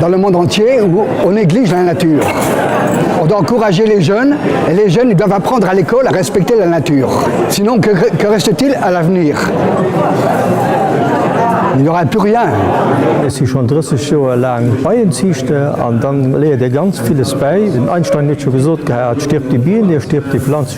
Dans le monde entier où on néglige la nature, on doit encourager les jeunes et les jeunes ils doivent apprendre à l'école à respecter la nature. Sinon que reste-t-il à l'avenir? Il n'y aura plus rien. Ech si schonn 30 Joer laang Beienziichter an da léiert ee ganz villes bäi. Den Einstein huet scho gesot gehat, Stirbt die Biene, stirbt die Pflanze.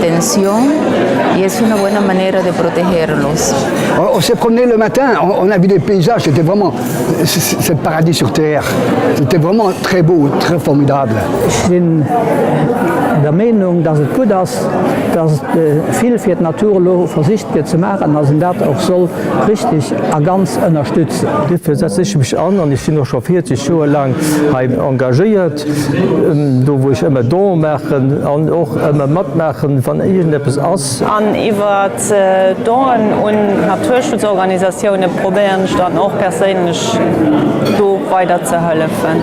Tensión y es una buena manera de protegerlos. On s'est promené le matin, on a vu des paysages, c'était vraiment, c'est le paradis sur terre, c'était vraiment très beau, très formidable. Ech sinn der Meenung, dass et gutt ass, dass vill fir d'Natur elo versicht gëtt ze maachen, dass een dat och soll richtig a ganz ënnerstützen. Dofir setze ech mech an an ech sinn och scho 40 Joer laang hei engagéiert. Do wou ech ëmmer Don maachen an och ëmmer matmaachen wann iergend eppes ass. An iwwert Donen un Naturschutzorganisatioune probéieren ech dann och perséinlech do weider ze hëllefen.